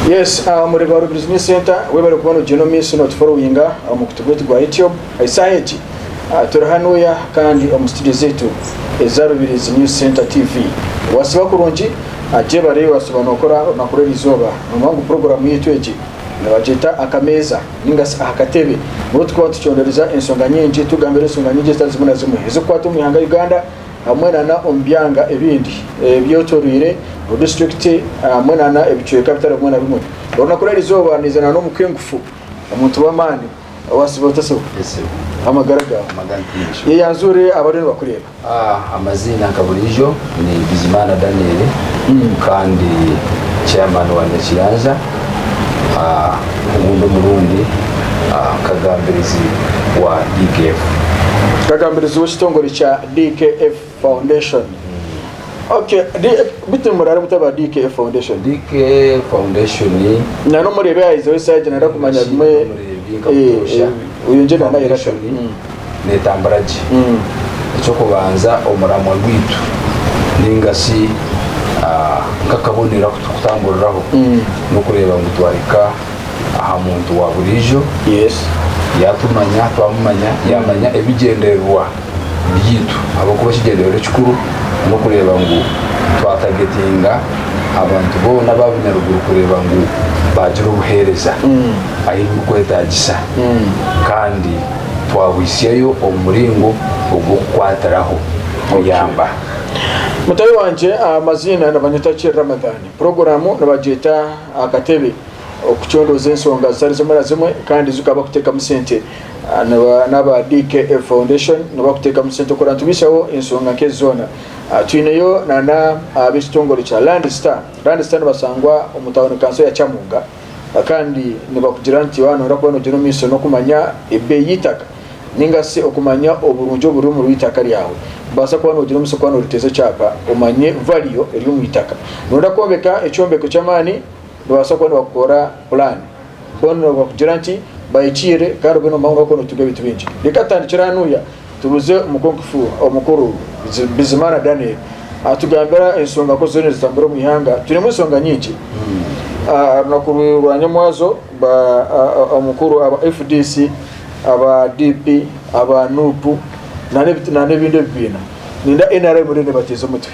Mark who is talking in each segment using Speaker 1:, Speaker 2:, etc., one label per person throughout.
Speaker 1: Yes, uh, murebe wa Rubirizi News Center webale kuba nogenda omu maiso notuforowinga uh, omu kutu gwaitu gwa YouTube esaaha egi uh, turi hanuya kandi omu studio zaitu eza Rubirizi News Center TV wasiba kurungi uh, gyebareyo wasiba nokora orunaku rw'erizooba nomanya ngu programu yaitu egi Nibagyeta akameeza ninga shi aha katebe. Nibwo turikuba nitucondoreza enshonga nyingi, tugambira enshonga nyingi ezitari zimwe na zimwe ezirikukwata omu ihanga Uganda hamwe na n'omu byanga ebindi ebyetoreire obudistrict hamwe na n'ebicweka bitari bimwe na bimwe. Orunaku rw'eri izooba niiza na n'omu k'engufu, omuntu w'amaani, owaasiba otatsiba, amagara gaawe, yeyanzure abariyo nibakureeba. Amaziina
Speaker 2: nka buriijo ni Bizimana Daniel kandi chairman wa Nyakiyanja obundi omurundi nkagambirizi wa DKF. Nkagambirizi
Speaker 1: w'ekitongore kya DKF Foundation. Ok bitu muraara muta aba DKF Foundation? DKF
Speaker 2: Foundation ni. Na n'omureebi ayezeho
Speaker 1: esaaha egi nari kumanya bimwe. Omureebi nkamutoosha. Oyo ngye nanaayera ta. neetambura
Speaker 2: gye. Eky'okubanza, omuramwa gwaitu nainga shi nk'akabonero aku turikutamburiraho n'okureeba ngu twahika aha muntu wa buriijo
Speaker 1: yaatumanya,
Speaker 2: twamumanya, yaamanya ebigyendererwa byaitu ahabw'okuba ekigyendererwa ekikuru n'okureeba ngu twatagetinga abantu boona aba bunyaruguru kureeba ngu baagira obuheereza ahu birikwetaagisa kandi twabwitsyayo omu muringo ogw'okukwatiraho kuyamba.
Speaker 1: Mutaahi wangye amaziina nibanyeta Kiri Ramadhan. Puroguramu nibagyeta Akatebe okucondooza ensonga zitari zimwe na zimwe kandi ezi okaba kuteekamu sente. N'aba DKF Foundation nibakuteekamu sente okureeba nitubaitsaho ensonga nk'ezi zoona. Twineyo na n'ab'ekitongore kya Land Star. Land Star nibasangwa omu tauni kanso ya Kyamunga. Kandi nibakugira nti waaba nooyenda kuba noogyera omu maisho n'okumanya ebeeyi y'eitaka nainga shi okumanya oburungi oburi omuri eitaka ryawe, nibaasa kuba noogira omugisha kuba nooriteeza ekyapa omanye valiyo eri omu itaka. Nooyenda kwombeka ekyombeko ky'amaani, nibabaasa kuba nibakukorera pulaani. Boona nibakugira nti bahikiirire kandi obwire nibumara waaba nooba nootunga ebintu bingi. Reka tutandikire ahanuya Tubuuze Omukungufu Omukuru Bizimana Daniel atugambira enshonga ku ziriyo nizitambura omu ihanga. Twinemu enshonga nyingi. Aha runaku rwa nyamwazo ba Omukuru aba fdc, aba DP, aba Nup nana ebindi ebibiina ninda nrm eriyo nebateeza omutwe.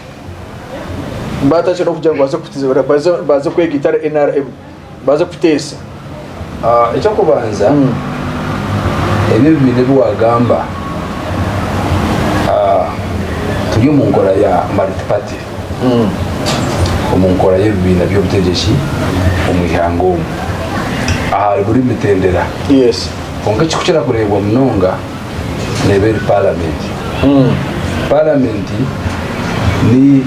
Speaker 1: Batakira nokugira ngu baze kwegaita nari nrm. Baaze kukuteesa.
Speaker 2: Eky'okubanza, ebi ebibiina ebi waagamba, turi omu nkora ya multi-party, omu nkora y'ebibiina by'obutegyeki omu ihanga omu, ahari buri mitendera.
Speaker 1: Kwonka ekirikukira
Speaker 2: kureebwa munonga, neeba eri Paramenti. Paramenti ni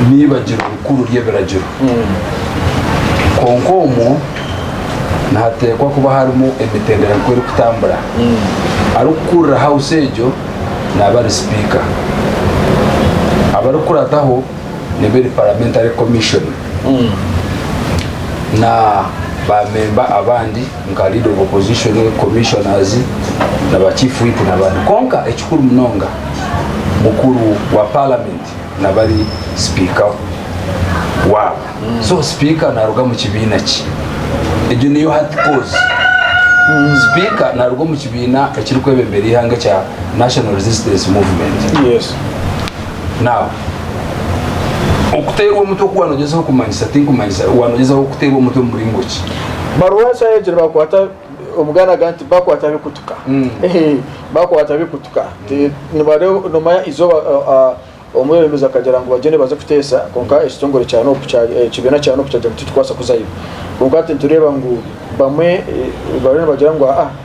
Speaker 2: n'eibagiro rikuru ry'ebiragiro. Kwonka omwo nihateekwa kuba harimu emitendera nk'oku erikutambura. Arikukurira Hawusi egyo naaba ari Sipiika. Abarikurataho neeba eri Paramenti ari Komishoni na baamemba abandi. nka Leader of Opposition, Commissioners na ba Chief Whip nabandi kwonka ekikuru munonga mukuru wa Parliament naba ari Sipiika waabo. So Sipiika naruga omu kibiina ki? Egyo niyo hati kozi. Sipiika naruga omu kibiina ekiri kwebembera eihanga ekya National Resistance Movement. Yes.
Speaker 1: Now,
Speaker 2: Okuteerwa omutwe oku waanogyezaho kumanyisa, tinkumanyisa, waanogyezaho kuteerwa omutwe mu muringo ki? Baruha eshaaha
Speaker 1: egyo nibakwata omuganda aga nti bakwata bikutuka mm. bakwata bikutuka mm. nibareba nomanya izooba uh, uh, omwebembezi akagira ngu bagende baze kuteesa kwonka mm. ekitongore kya nopu eh, ekibiina kya nopu kyagira ngu titukwasa kuzayo kwonka tintureeba ngu bamwe eh, bariyo nibagira ngu aa ah,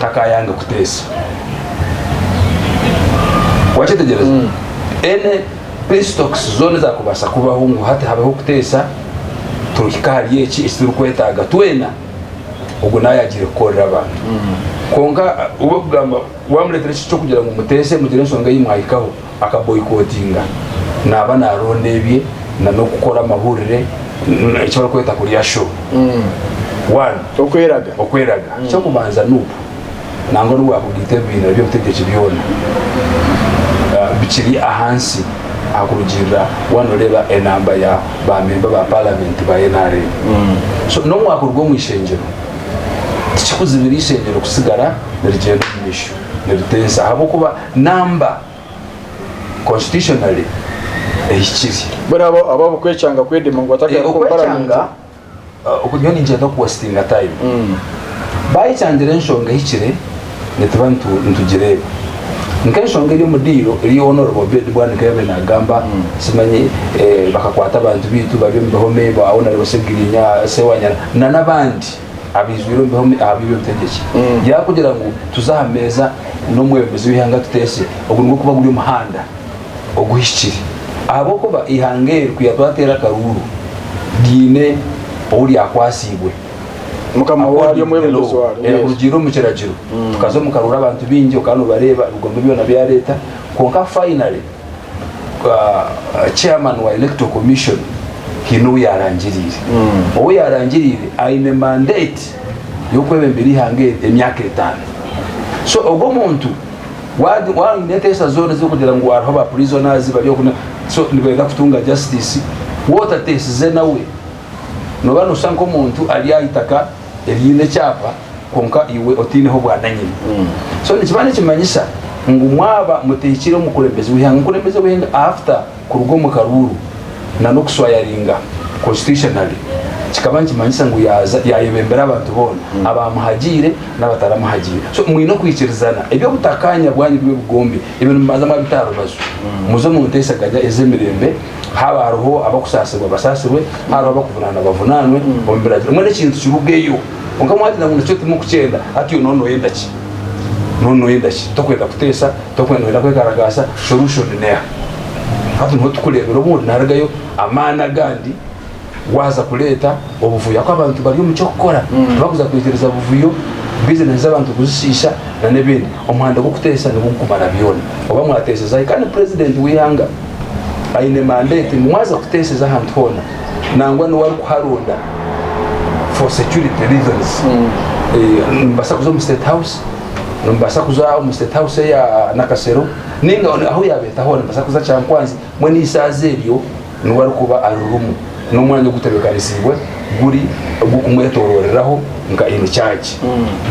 Speaker 2: takaayange kuteesa. Wakyetegyereza? Any pestocks zoona ezaakubaasa kubaho ngu hati habeho kuteesa, tuhika ahari eki eki turikwetaaga twena, ogwo nawe yaagiire kukorera abantu. Kwonka we kugamba, waamureetera eki ky'okugira ngu muteese mugire enshonga ei mwahikaho, akaboyikotinga naaba naaronda ebye na n'okukora amahurire eki barikweta kurya sho One, Okweraga. okweraga eky'okubanza nup nangwa n'obu waakugaita ebibiina by'obutegyeki byona ah, bikiri ahansi aha kurugiirira waaba nooreeba enamba ya baamemba ba paalamenti ba nrm so n'obu waakuruga omu ishengyero tikikuzibira ishengyero kusigara nirigyenda omu maisho niriteesa ahabw'okuba Namba, constitutionally, ehikire. Mbwenu abo abo
Speaker 1: abukwekyanga kwedema ngu batakaheruka omu parliament. Okwekyanga,
Speaker 2: nyowe ninkyenda ku wastinga time. Bayekyangire enshonga ehikire nituba nitugireeba. Nk'enshonga eri omu diiro eri owa honorable Obed Bwana nkayabaire nagamba simanyi bakakwata abantu baitu bari omu bihome, ba honorable Segirinya, Sewanyana na nabandi. abaijwire obubi aha bwire obutegyeki yaba kugira ngu tuze aha meeza n'omwebembezi w'eihanga tuteese ogu nigwo kuba guri omuhanda oguhikire ahabw'okuba eihanga eri ku yatwateera akaruuru ryine ou ryakwatsiibwe mukama
Speaker 1: waryo omwebembezi waryo era kurugiirira omu kiragiro
Speaker 2: tukaza omu karuuru abantu baingi okaba nobareeba ebigombe byona byareeta kwonka finally chairman wa electoral commission haine ou yarangiriire hmm. ou yarangiriire aine mandate y'okwebembera eihanga eri emyaka etaano so ogwo omuntu waine enteesa zoona ezirikugira ngu hariho ba prisoners bari oku so nibenda kutunga justice wotateesize nawe noba noshusha nk'omuntu ari aha itaka eryine ekyapa kwonka iwe otaineho bwananyini so nikiba nikimanyisa ngu mwaba mutehikire omukulembezi weihanga omukulembezi weihanga after kuruga omu karuuru nana okuswayaringa constitutionally kikaba nikimanyisa ngu yaza yayebembera abantu boona abamuhagiire nabataramuhagiire so mwine okwikirizana ebyobutakanya bwanyu bibe bugombe ebyo nimubanza mwabita aharubaju muze omunteeseganya ezemirembe Haaba hariho abakusaasirwa basaasirwe, haaba hariho abakuvunaanwa bavunaanwe omu biragiro. Mbwenu ekintu kirugeyo. Kwonka mwagira ngu nikyo timukukyenda, hati yoona nooyenda ki? Yoona nooyenda ki? Tokwenda kuteesa, tokwenda nooyenda kwekaragaasa, solution neha? Hati niho turikureebera obundi naarugayo amaani agandi. Waaza kureeta obuvuyo ahakuba abantu bari omu ky'okukora, tibakuza kwikiriza buvuyo, bizinesi z'abantu kuzishiisha nana ebindi. Omuhanda gw'okuteesa nigwo gukumara byona. Oba mwateeseza hi? Kandi Purezidenti w'eihanga aine mandeeti ngu mwaza kuteeseza ahantu hoona nangwa n'owu arikuharonda for security reasons. Nimubaasa kuza omu State House, nimubaasa kuza omu State House eya Nakasero nainga ahu yaabeeta hoona. Nimubaasa kuza Kyankwanzi, mbwenu eishaaza eryo. N'obu arikuba ari rumu n'omwanya ogutebekanisiibwe guri ogw'okumwetorooreraho nka emicaagi.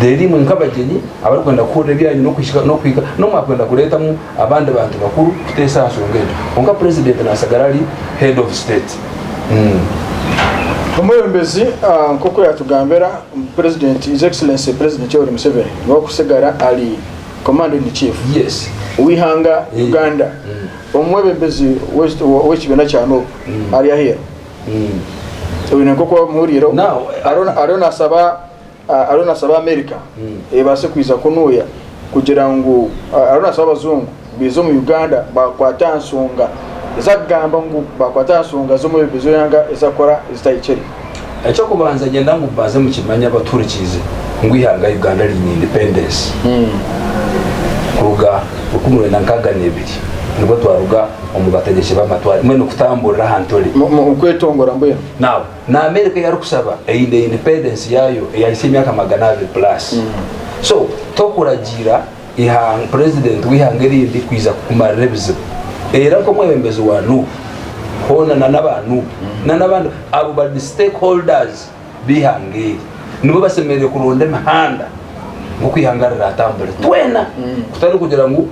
Speaker 2: Reero imwe nk'abagyenyi abarikwenda kuhurira ebi aine okuhika n'okuhika, n'omwakwenda kureetamu abandi bantu bakuru kuteesa aha nshonga egyo. Kwonka Purezidenti naatsigara ari Head of State.
Speaker 1: Omwebembezi nk'oku yaatugambira, Purezidenti, His Excellency Purezidenti Yoweri Museveni niwe arikutsigara ari Commander in Chief w'eihanga Uganda. Omwebembezi w'ekibiina kya Nup ari aheeru oine nk'oku wabimuhuriireho ariyo naasaba ariyo naasaba Amerika ebaase kwija kunuuya kugira ngu ariyo naasaba abajungu baije omu Uganda baakwate aha nshonga ezi arikugamba ngu baakwate aha nshonga z'omwebembezi w'eihanga ezi arikukora ezitahikire. Eky'okubanza
Speaker 2: ngyenda ngu mubanze mukimanye abatuhurikiize ngu eihanga Uganda riine independence kuruga rukumi rwenda nkaaga n'ebiri nibwo twaruga omu bategyeki b'amatwari mbwenu kutamburira aha ntore. Mu kwetongora
Speaker 1: mbwenu. Now, na America
Speaker 2: ei arikusaba eine independence yaayo eyahisya emyaka magana abiri plus. So, tokuragiira ihanga purezidenti w'eihanga erindi kwija kukumarira ebizibu era nk'omwebembezi wa nuubu hoona nana aba nuubu nana abandi abo bari stake holders b'eihanga eri nibo basemereire kuronda emihanda nk'oku ihanga riratambure twena kutari kugira ngu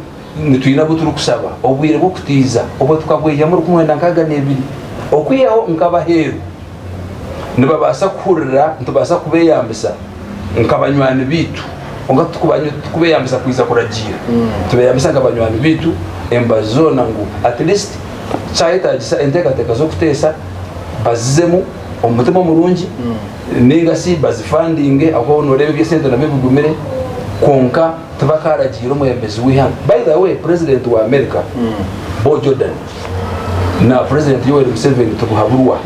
Speaker 2: nitwine abu turikusaba obwire bw'okutiiza obwo tukabweihamu rukumi mwenda nkaaga n'ebiri okwihaho nk'abaheeru. nibabaasa kuhurira nitubaasa kubeeyambisa nka banywani baitu. Kwonka tikubeeyambisa kwija kuragiira. Nitubeeyambisa nka banywani baitu emibazi zoona ngu at least kyayetaagisa enteekateeka z'okuteesa bazizemu omu mutima omurungi nainga shi bazifandinge ahabw'okuba nooreeba eby'esente nabyo bigumire kwonka tibakaaragiira omwebembezi w'eihanga. By the way president wa America Bo Jordan na president Yoweri Museveni Tibuhaburwa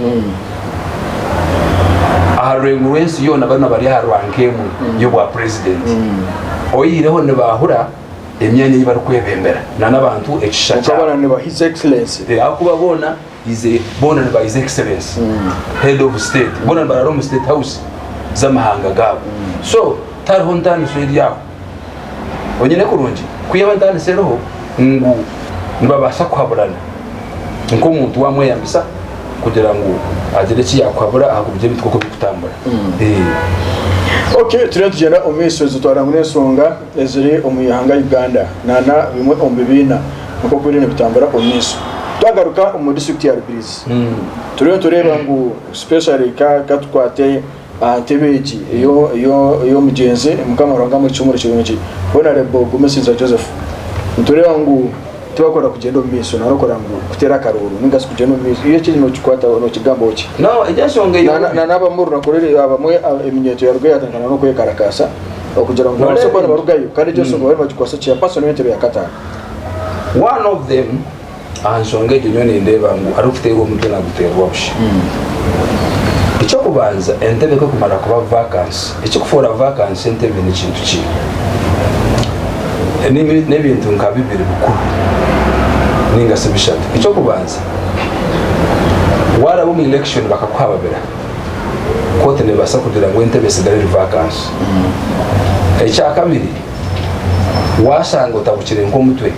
Speaker 2: aha rureengo rw'ensi yoona boona bari aha rwanka emwe y'obwa president oyihireho nibahura emyanya ei barikwebembera nana abantu ekishisha kyabo
Speaker 1: ahabw'okuba boona
Speaker 2: His boona niba his excellence head of state boona nibaraara omu state house z'amahanga gaabo so tihariho ntaaniso eri aho onyine kurungi ku yaaba ntaaniso eriho ngu nibabaasa kuhaburana nk'omuntu waamweyambisa kugira ngu agire eki yaakuhabura aha kuburyo ebintu nk'oku birikutambura.
Speaker 1: Okay turiyo nitugyenda omu maisho nitutwara ngu n'ensonga. eziri omu ihanga Uganda nana bimwe omu bibiina oku obwire nibutambura omu maisho. Twagaruka omu district ya Rubirizi turiyo nitureeba ngu specially ka ka tukwate aha ntebe egi eyo eyo ey'omugyenzi Mukama Ruhanga amuhe ekihumuro kirungi Honourable Gumesiza Joseph nitureeba ngu Tiwakunda kugyenda omu maisho nari okora ngu kuteera akaruuru ninga shi kugyenda omu maisho. Iyo kiri nokikwataho, nokigambaho ki? Nawe egyo enshonga ei
Speaker 2: Na- na- N'abamu omu runaku ruri
Speaker 1: abamwe a- eminyeeto yarugayo yatandikana n'okwekarakaasa okugira ngu babaase kuba nibarugayo kandi egyo enshonga bariyo nibagikwasa ki? Ya Paso niyo ntebe ya kataano. One
Speaker 2: of them, aha nshonga egyo nyowe nindeeba ngu arikuteerwa omutwe naguteerwa busha. Eky'okubanza entebe ku erikumara kuba vacancy, Ekirikufoora vakansi entebe ni kintu ki? N'ebintu nka bibiri bikuru nainga shi bishatu. Eky'okubanza, waaraba omu elekishoni bakakuha ababira, kooti neebaasa kugira ngu entebe etsigare eri vakansi. Ekyakabiri, waashanga otabukire nk'omutwe,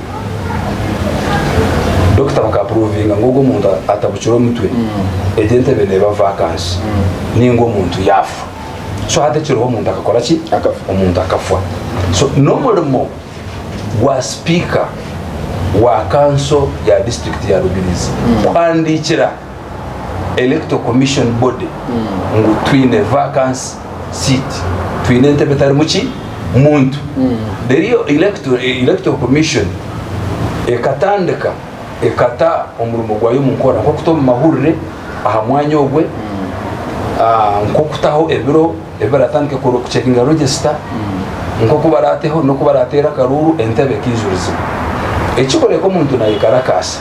Speaker 2: dokita bakapuruuvinga ngu ogwo muntu atabukire omutwe, egyo entebe neeba vakansi nainga omuntu yaafa. so hati ekiriho omuntu akakora ki omuntu akafwa so n'omurimo gwa sipiika wa kanso ya disiturikiti ya rubirizi mm. kuhandiikira electo commission body mm. ngu twine vacancy seat twine entebe etarimu ki muntu mm. rero electo commission ekatandika ekata omurimo gwayo omu nkora nk'okuta omu mahurire aha mwanya ogwe, nk'okutaho ebiro ebi baratandika kukora okucekinga regisita, nk'oku barateho n'oku barateera akaruuru entebe ekaijurizibwa. Ekikureka omuntu nayekarakaasa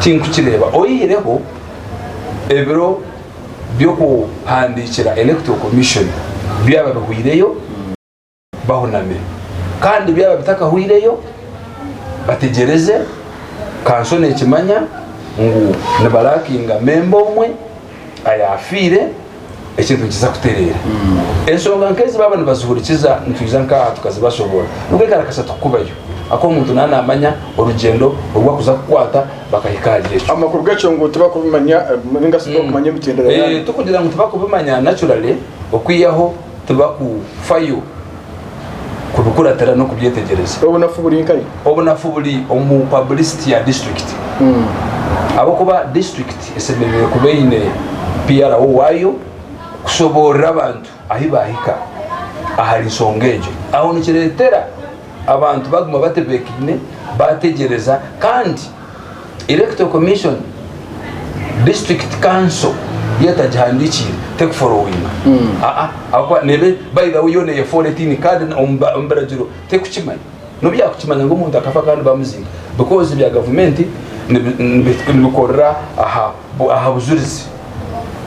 Speaker 2: tinkukireeba oyihireho ebiro by'okuhandiikira Electoral Commission byaba bihweireyo. bahunamire. Kandi byaba bitakahweireyo, bategyereze, kanso neekimanya ngu nibaraakinga memba omwe ayaafiire, ekintu nikiza kutereera. Ensonga nk'ezi baaba nibazihurikiza, nitwija nk'aha tukazibashoboora. Nubwo ekarakasa tukukubayo, ahakuba omuntu naaba naamanya orugyendo oru arikuza kukwata bakahika ahari ekyo. Amakuru gakyo ngu
Speaker 1: tibakubimanya, ninga shi tibakumanya emitinda ya Ruhanga. Ee, tikugira ngu tibakubimanya,
Speaker 2: naturally, okwihaho tibakufayo kubikuratira n'okubyetegyereza. Obunafu buri nkayi? Obunafu buri omu pabulisiti ya disiturikiti ahabw'okuba disiturikiti esemeriire kuba eine PRO waayo kushoboorora abantu ahi baahika ahari nshonga egyo. Aho nikireetera abantu baguma batebeekaine, baategyereza kandi. Electoral Commission, District Council yo etagihandiikiire tekuforowinga aa ahabw'okuba neeba by the way yoona eyeforetingi kandi omu biragiro tekukimanya. N'obu yaakukimanya ngu omuntu akafa kandi baamuziika because ebya gavumenti nibikorera aha Aha bujurizi,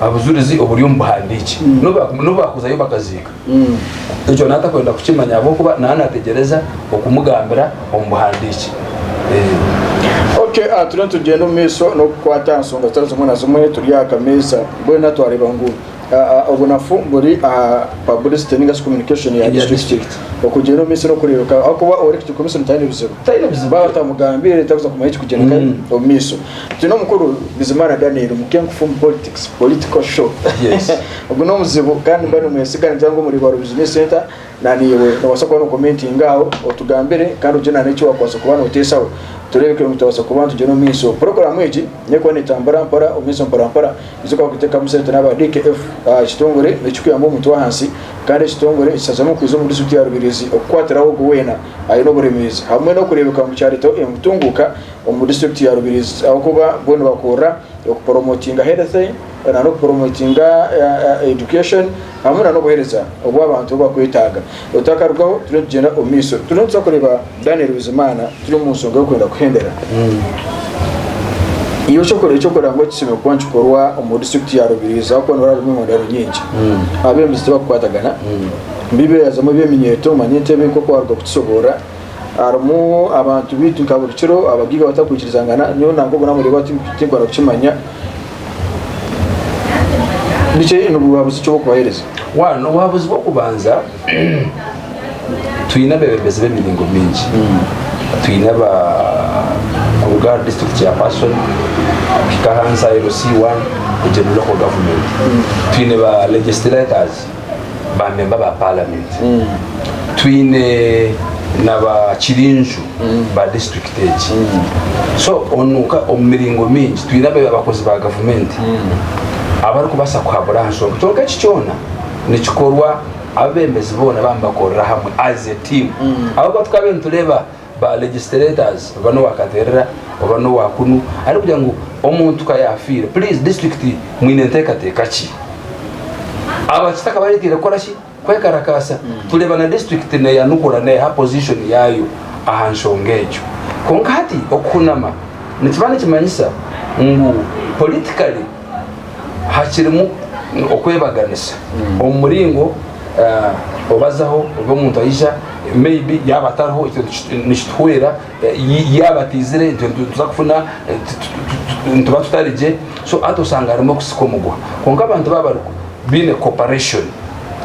Speaker 2: aha bujurizi oburi omu buhandiiki, n'obu baakuzayo bakaziika, ekyo naatakwenda kukimanya ahabw'okuba naaba naateegyereza okumugambira omu buhandiiki.
Speaker 1: Ok, turiyo nitugyenda omu maisho n'okukwata aha nshonga zitari zimwe na zimwe turi aha kameeza. Mbwenu twareeba ngu Obwo nafu buri aha publicity ninga shi communication ya district. Okugira omu misiri okureebeka ahakuba ori kiti komisoni taine bizibu. Taine bizibu. Baaba batamugambiire takuza kumanya ekikugyeneka omu maiso. Twine omukuru Bizimana Daniel muke nkufu omu politics, political show. Ogu
Speaker 2: n'omuzibu
Speaker 1: kandi nimba nimwesiga ningira ngu omuri Rwa Rubiju News Centre, Naniiwe noobaasa kuba nookomentinga aho otugambire kandi ogire na n'eki waakubaasa kuba nooteesaho tureebe ku turabaasa kuba nitugyenda omu maisho. Puroguraamu egi n'erikuba neetambura mpora omu maisho mpora mpora tuze kuba kuteekamu sente n'aba DKF. Ekitongore ekirikuyamba omuntu w'ahansi kandi ekitongore ekishazamu kwija omu disiturikiti ya Rubirizi okukwatiraho ogwo weena aine oburemeezi hamwe n'okureebeka ngu kyareetaho entunguuka omu disiturikiti ya Rubirizi ahabw'okuba bo nibakorera okuporomotinga health na n'okuporomotinga education. hamwe na n'obuhereza obu abantu bakwetaaga. Otakarugaho turiyo nitugyenda omu maiso. Turiyo nituza kureeba Daniel Bizimana turi omu nshonga y'okwenda kuhembera. Iwe eky'okora eky'okora ngu ekisiime kuba nikikorwa omu district ya Rubirizi ahakuba niho harimu emihondano nyingi. Abembezi tibakukwatagana. Bibeehazamu eby'eminyeeto manya entebe nk'oku waaruga kukisoborra. Harimu abantu baitu nka buri kiro abagaiga batarikwikirizangana, nyowe nanka obu naamureeba tinkwenda kukimanya. Nikyo, ni buhabuzi ki obu orikubaheereza? One, obuhabuzi
Speaker 2: bw'okubanza, twine abeebembezi b'emiringo mingi. Twine aba kuruga ahari district chairperson kuhika ahansi aha LC1, egyo ni local government. Twine ba legislators, ba memba ba palamenti twine na ba kirinju ba disiturikiti egi so onu ka- omu miringo mingi twine aba- abakozi ba gavumenti abarikubaasa kuhabura aha nshonga kyonka eki kyona nikikorwa abebembezi boona baba nibakorera hamwe as a team ahabw'okuba tukaba nitureeba ba legislators oba nowa katerera oba nowa kunu arikugira ngu omuntu ka yafiire please district mwine entekateka ki abakita akaba aretire kukora ki kwekarakasa tureba na district neyanukura neha position yayo aha nshonga egyo kwonka hati okuhunama nikiba nikimanyisa ngu politically hakirimu okwebaganisa omu muringo obazaho obu omuntu aija maybe yaaba atariho nikituhwera yaaba ataizire nituza kufuna nituba tutarigye so hati osanga harimu okusika omugwa kwonka abantu baaba barikwo baine cooperation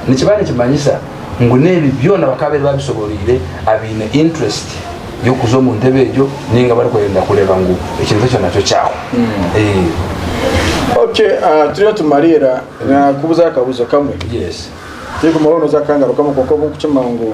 Speaker 2: nikiba nikimanyisa ngu n'ebi byona bakaabaire baabishobooroire abaine interest y'okuza omu ntebe egyo nainga abarikwenda kureeba ngu ekintu ekyo nakyo kyahwa.
Speaker 1: Ok, turiyo nitumariira naakubuuza akabuuzo kamwe. Yes. Tiri
Speaker 2: kumwe, hoona oze
Speaker 1: akangarukamu kwonka obu nkukimanya ngu.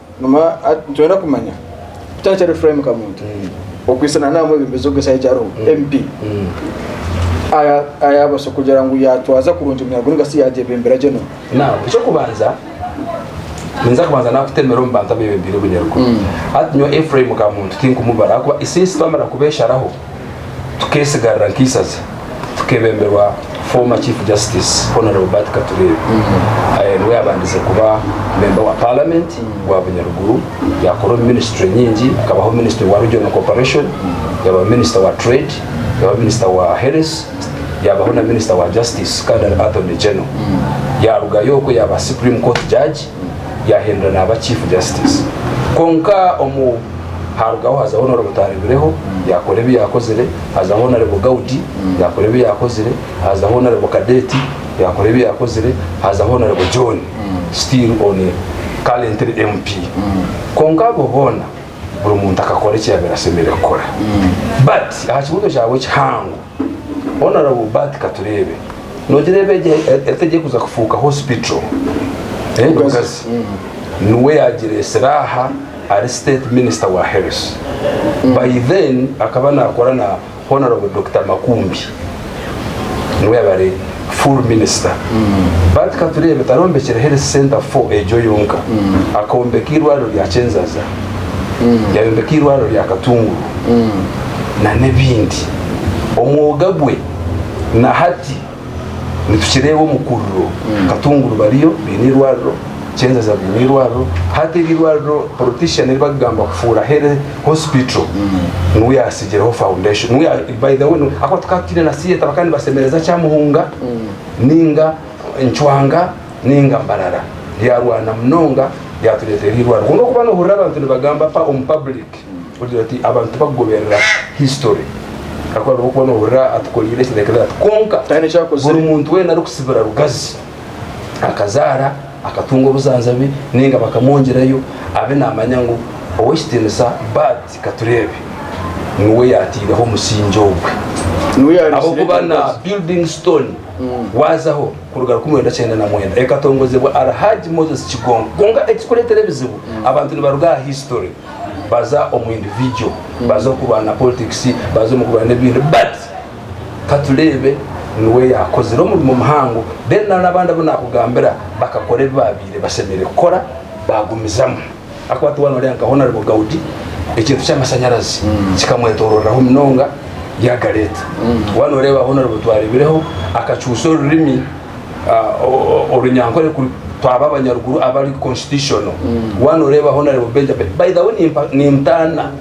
Speaker 1: Mama, ati, Nitwenda kumanya ku Taahikyaro Ephraim Kamuntu, okwisana na mwebembezi ogw'esaha egi ariho, MP, aya- ayabasa kugira ngu yatwaza kurungi eminyago ninga si yagyebembera gye n'omu. Now, eky'okubanza,
Speaker 2: ninza kubanza nakutemera omu bantu abebembeire Obunyaruguru. Hati nyowe Ephraim Kamuntu tinkumubara ahakuba isiisi twamara kubesharaho, tukeesigarira nk'eisaza tukebemberwa former chief justice Hon Robert Katureebe niwe yabandize kuba memba wa parliament wa Bunyaruguru yakora omu ministry nyingi akabaho minister wa regional corporation yaba minister wa trade yaba minister wa health yabaho na minister wa justice kandi ari attorney general yarugayo okwe yaba supreme court judge yahindura naaba chief justice kwonka omu harugaho hazaho honorable Twaribireho yakora ebi yakozire hazaho honorable Gaudi yakora ebi yakozire hazaho honorable Cadet yakora ebi yakozire hazaho honorable John still on currently MP kwonka abo boona buri muntu akakora eki yabire asemeriire kukora but aha kibuzo kyawe ekihango Honourable Bart Katureebe, noogira eba egi etegye kuza kufuuka hospital e Lugazi niwe yaagireetsire aha ari State Minister wa Health. By then akaba naakora na Honourable Dokita Makumbi. Niwe yaba ari. Full minister but katureebe tarombekyera health center fo egyo yonka akombeka irwariro rya kyenzaza yayombeka irwariro rya katunguru na nebindi omwoga gwe na hati nitukireeba omukuriro katunguru bariyo baine irwariro kyenzaza baine irwariro hati eri irwariro politician eribakugamba kufuura hospital niwe yasigireho foundation niwe ya- by the way niwe- ahabw'okuba tukaba tutaine na theatre bakaba nibasemereza kyamuhunga ninga ncwanga ninga mbarara ryarwana munonga ryatureetera eirwariro kwonka okuba nohurira abantu nibagamba pa omu public ogira oti abantu tibakugoberera history ahabw'okuba nohurira atukoreire eki like that kwonka Taine ekyakozire. buri muntu
Speaker 1: weena arikusibira
Speaker 2: rugazi akazaara, akatunga obuzaanza be nainga bakamwongyerayo abe naamanya ngu Ow'ekitiinisa Bud Katureebe niwe yaataireho omusingye ogwe. Niwe yaareetsire Ahabw'okuba egyo na mibazi. Building Stone waazaho kuruga rukumi rwenda kyenda na mwenda ekatongozebwa Alhaj Moses Kigongo. Kwonka ekirikureetera ebizibu abantu nibaruga aha history baza omu individual, baza omu kurwana politics, baza omu kurwana ebindi but, Ka tureebe, Niwe yaakozire omurimo muhango, reero nari abandi abu naakugambira bakakora ebi baabaire bashemereire kukora baagumizamu. Ahakuba tiwaaba nooreeba nka Honarebo Gaudi, ekintu ky'amashanyarazi kikamwetorooreraho munonga yaagareeta. Waaba nooreeba Honarebo Twareebireho akacuusa orurimi Orunyankore ku twaba abanyaruguru abari constitutional. Waaba nooreeba Honarebo Benjamin, by the way nimpa, nintaana.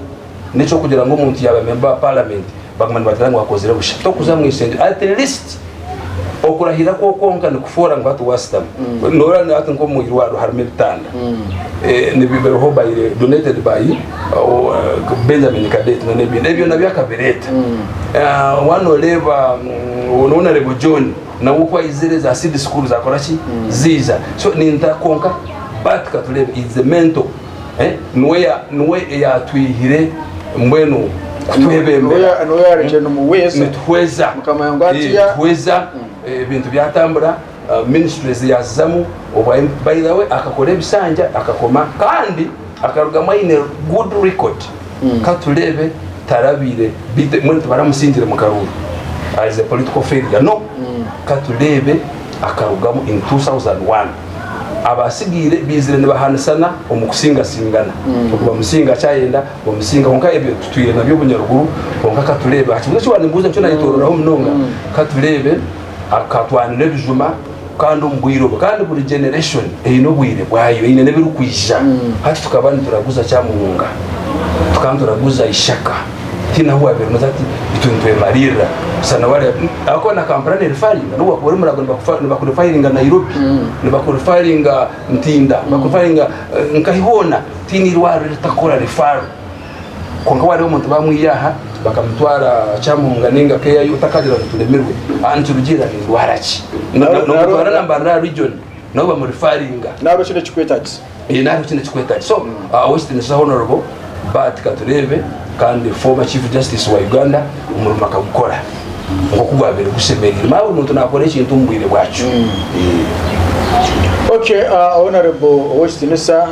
Speaker 2: nekyokugira ngu omuntu yaba memba wa parliament baguma nibagira ngu akozire busha tokuza mwisengero at least okurahira kwo kwonka nikufoora ngu hati wasitamu mm. nora hati nkomu irwaro harimu ebitanda mm. eh, nibibereho by donated by uh, benjamin cadet nebindi ebyo nabyo akabireta mm. eh, wana oreba nona rebo john nawe ukwayizire za seed school zakoraki ziza so ninta konka but katurebe is the mental Niwe eyatwihire mbwenu kutwebembera
Speaker 1: nituhweza
Speaker 2: nituhweza ebintu byatambura ministries yazizamu by the way akakora ebisanja akakoma kandi akarugamu aine good record Ka tureebe, tarabaire bite? Mbwenu tibaramusingire mu karuuru as a political failure? No. Ka tureebe, akarugamu in 2001. Abaasigaire baizire nibahanisana omu kusingasingana, ogu bamusinga aki ayenda, bamusinga. Kwonka ebyo tutwire nabyo obunyaruguru. Kwonka ka tureebe, aha kibuuzo eki waanimbuuza nikyo naayetororaho munonga. Ka tureebe. Akatwanura ebijuma kandi omu bwire obwo kandi buri generation eine obwire bwayo eine n'ebirikwija hati tukaba nituraguza kyamuhunga tukaba nituraguza ishaka tihaine ahu wabiire noza ati itwe nitwemaririra busa nawe ari ahakuba na Kampala nerifaringa nobu wakuba ori murago nibakurifaringa Nairobi nibakurifaringa Ntinda nibakurifaringa nkahi hoona tihaine irwariro eritakora refaro. Kwonka wareeba omuntu bamwiha aha bakamutwara Kyamunga ninga KIU otakagira ngu turemirwe aha nikirugiirira nindwara ki? Nomutwara na Mbarara aha region nabo bamurifaringa. Nari okine ekikwetagisa.
Speaker 1: Eeh nari okine ekikwetagisa.
Speaker 2: So Owekitiinisa Honourable Bart Katureebe kandi former Chief Justice wa Uganda omurimo akagukora nkoku gwabaire gusemereire. Manya buri muntu nakora ekintu omu bwire bwakyo. Eeh.
Speaker 1: Okay Honourable Owekitiinisa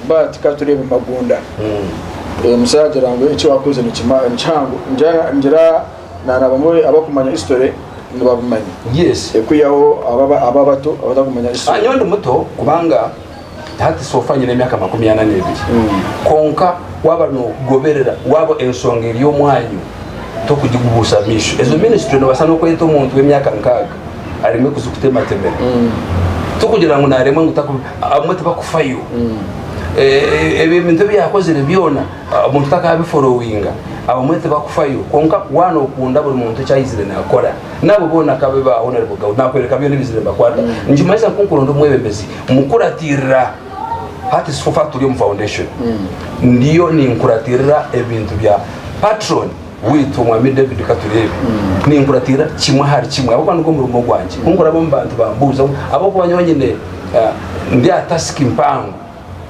Speaker 1: But ka tureebe Magunda. Uyo musaija agira ngu eki wakoze ni kihango. Ngira na abamwe abakumanya history nibabimanya. Yes. Ekwihaho
Speaker 2: abo
Speaker 1: abato abatakumanya history. Nyowe ndi muto kubanga
Speaker 2: hati so far nyine emyaka makumi ana n'ebiri. Kwonka waba nogoberera, waba ensonga eri omwanyu, tokugigubuusa amaisho. Ezo minisitule nobaasa nokweta omuntu w'emyaka nkaaga aremwe kuzikutematemera. Tikugira ngu naaremwa ngu taku abamwe tibakufayo. Ebyo ebintu ebi yaakozire byona omuntu takaabiforowinga abamwe tibakufayo. Kwonka waaba nookunda buri muntu eki aizire naakora n'abo boona ku abibaaho nari bugabo naakworeka byona ebizire nibakwata. Nikimanyisa ngu kunkuronda omu mwebembezi mukuratiirira. hati sikufa turi omu foundation ndiyo ninkuratirira ebintu bya patron witu omwami david katurebe ninkuratirira kimwe ahari kimwe ahabwokuba nigwo murimo gwangye kunkuraba omu bantu bambuuza ngu ahabwokuba nyowe nyine eh, ndi aha task mpango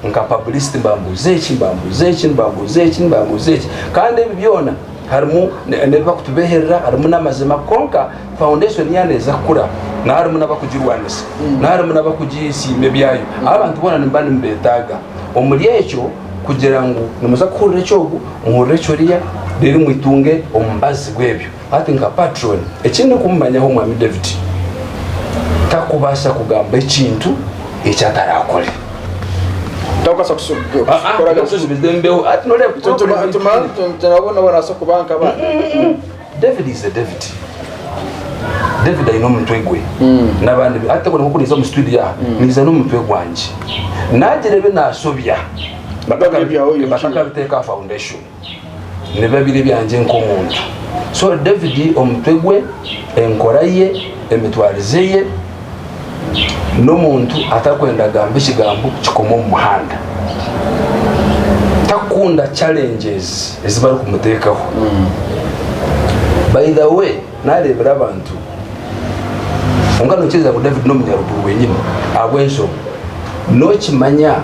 Speaker 2: nka publicity mbambuuza eki mbambuuza eki mbambuuza eki mbambuuza eki kandi ebi byona Harimu n'ebi barikutubeeherera, harimu n'amazima. Kwonka foundation yaaba neeza kukura, naho harimu n'abarikugirwanisa, naho harimu n'abarikugisiima ebyayo. Abo abantu boona nimuba nimubeetaaga. Omuri ekyo kugira ngu nimuza kuhurira eki ogu, muhurire ekiriya, reero mwitunge omubazi gw'ebyo. Hati nka patron, eki ndikumumanyaho Mwami David, tarikubaasa kugamba ekintu eki ataraakore.
Speaker 1: tutakubaasa kukoraga
Speaker 2: nabo
Speaker 1: nabasa kuba nkaba david
Speaker 2: is a david david aine omutwe gwe hmm. nabandi ate buri nkokuriza omu studio yaha hmm. niza n'omutwe gwange nagira ebi nasobya batakabiteeka foundation nibiba biri ebyangye nk'omuntu. So David omutwe gwe, enkora ye, emitwarize ye, n'omuntu atakwenda agamba ekigambo kikoma omu muhanda. Takunda challenges ezi barikumutekaho. By the way. Naareebire abantu. Kwonka nokiiriza ngu David n'omunyaruguru wenyini ahabw'enshonga? Nokimanya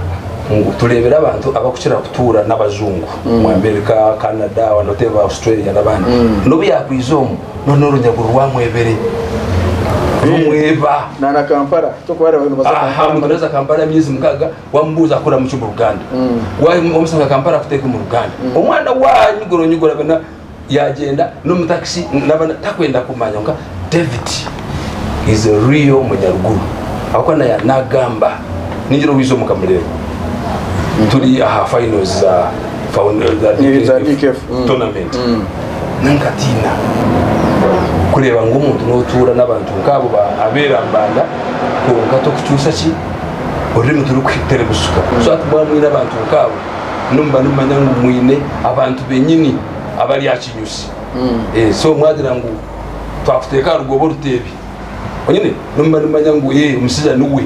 Speaker 2: ngu tureebire abantu abakukira kutuura n'abajungu omu America, Canada, abandi otebe ba Australia n'abandi. N'obu yakwija omu noona orunyaguru rwamwebire rumweba. Na na Kampala.
Speaker 1: Aha muntu naza Kampala
Speaker 2: emyezi mukaaga wamubuuza akoramuki omu Ruganda. Wamusanga Kampala akuteeka omu Ruganda. Omwana wanyu guronyigura. yagyenda n'omu takisi naba takwenda kumanya nka david is a real munyaruguru ahabwokuba naya nagamba ningira owiiza omu kamureba turi aha finals za found- eh, za Eh, za DKF, DKF, mm. tournament Mm. nankatiina kureeba ngu omuntu notuura n'abantu nkaabo ba abeera mbanda kwonka tokucuusa ki orurimi turikuterebusuka so ati mwaba mwine abantu nkaabo nimuba nimumanya ngu mwine abantu benyini abari aha kinyusi mm. eh, so mwagira ngu twakuteeka aha rugoba oruteebi onyine nimuba nimumanya ngu ye eh, omusija niwe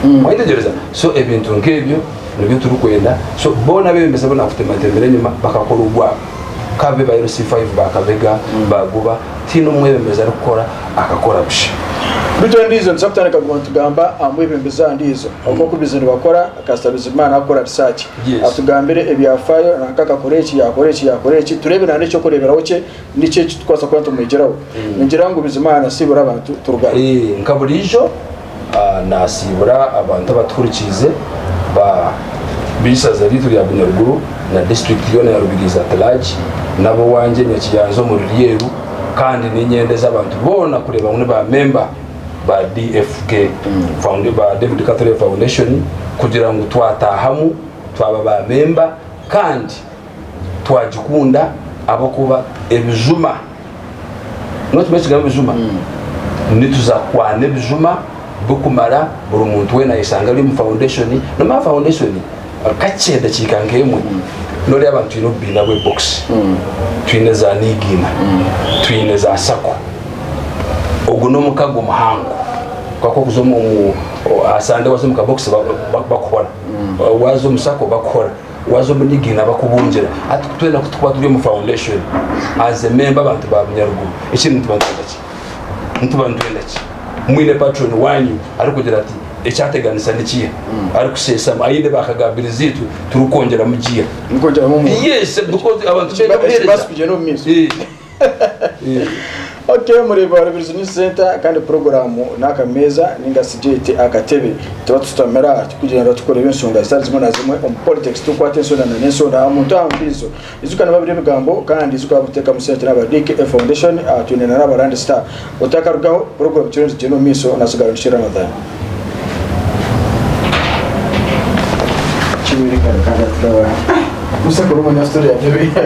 Speaker 2: mm. mwayetegyereza so ebintu nk'ebyo nibyo turikwenda so boona abebembezi bona kutematembera enyuma bakakora ogwabo kabe ba lc 5 bakabega mm. bagoba tiine omwebembezi arikukora akakora busha bitu endiijo
Speaker 1: nituza kutandika kuguma nitugamba aha mwebembezi aha ndiijo oku okubaize nibakora Kasita Bizimana akora research atugambire ebyafaayo nanka akakora eki yakora eki yakora eki tureebe nana ekyokureeberaho kye niki eki tukubaasa kuba nitumwegyeraho. Ningira ngu Bizimana nasiibura abantu Turugana. Eeh nka buriijo
Speaker 2: nasiibura abantu abatuhurikiize ba b'eishaza ryaitu rya Bunyaruguru na district yoona ya Rubirizi at large n'abowangye Nyakiyanzi omuri Ryeru kandi ninyendeza abantu boona kureeba ngu ni ba member. ba DFK Founda ba David Catherley Foundation kugira ngu twataahamu twaba ba memba kandi twagikunda ahabw'okuba ebijuma nookimanya ekigambo ebijuma nituza kukwana ebijuma birikumara buri muntu weena ayeshanga ari omu Foundation nomu aha Foundation Kakye edakiika nk'emwe noreeba ngu twine obubiina bw'ebokisi, twine za niigiina, twine za sako. Ogu n'omukago muhango kwonka okuza omu aha sande waaza omu kabokisi bakuhora, waaza omu sako bakuhora, waaza omu niigiina bakubungira. Hati twena ku turikuba turi omu foundation as a member abantu ba Bunyaruguru ekindi nituba nitwenda ki? nituba nitwenda ki? Mwine paturoni waanyu arikugira ati, Ekyateganisa ni kiiha? Arikusheeshamu aine baakagaabirizi itwe turikwongyeramu giya. Turikwongyeramu omurimo.
Speaker 1: Yes, because
Speaker 2: abantu nibeenda Ekibazo kuheereza. kugyenda omu
Speaker 1: maisho. Eh. Eh. Ok, omurembe wa Rubirizi News Centre kandi puroguraamu ni Akameeza ninga shi gyete Akatebe. Tuba tushutamire aha tukugyenda tukureba enshonga zitari zimwe na zimwe omu politics, tukwata ensonda na n'ensonda aha muntu aha mbiizo. Ijuka nababira ebigambo kandi ijuka ahabwokutekamu sente naba DK Foundation aha twine na naba Rand Star otakarugaho poroguramu kiro nizigyenda omu maiso na sigaro nikye Ramadhan.